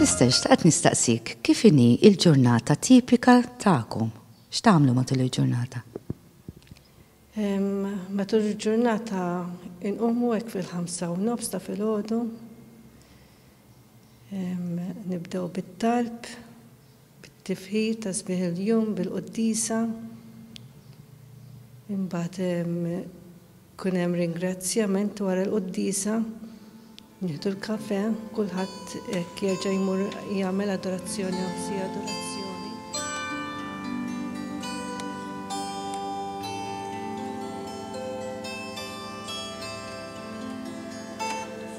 Sister, xtaqt nistaqsik, kif inhi il-ġurnata tipika tagħkom? X'tagħmlu matul il-ġurnata? Matul il-ġurnata inqumu hekk fil-ħamsa u nofs ta' filgħodu. Nibdew bit-talb, bit-tifħir ta' sbieħ il-jum bil-quddisa. Imbagħad Ikun hemm ringrazzjament wara l-quddiesa, nieħdu l-kafè, kulħadd hekk jerġa' jmur jagħmel adorazzjoni hawn si adorazzjoni.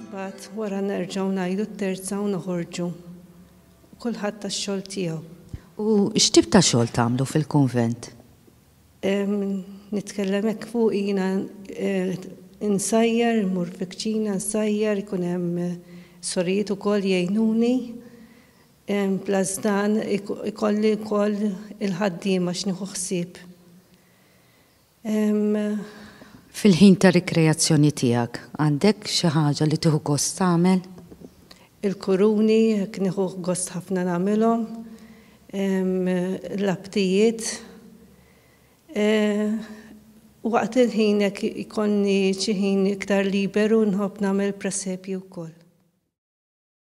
Imbagħad wara nerġgħu ngħidu t-terza u noħorġu. Kulħadd għax-xogħol tiegħu. U x'tip ta' xogħol tagħmlu fil-kunvent? Nitkellem hekk fuq jiena insajjar, immur fil-kċina nsajjar, ikun hemm sorijiet ukoll jgħinuni. Plus dan ikolli wkoll il-ħaddiema x'nieħu ħsieb. Fil-ħin ta' rikreazzjoni tiegħek, għandek xi ħaġa li tieħu gost tagħmel? Il-kuruni, hekk nieħu gost ħafna nagħmilhom. Il-labtijiet. Waqt il-ħin hekk jkollni xi ħin iktar liberu nħobb nagħmel presepji wkoll.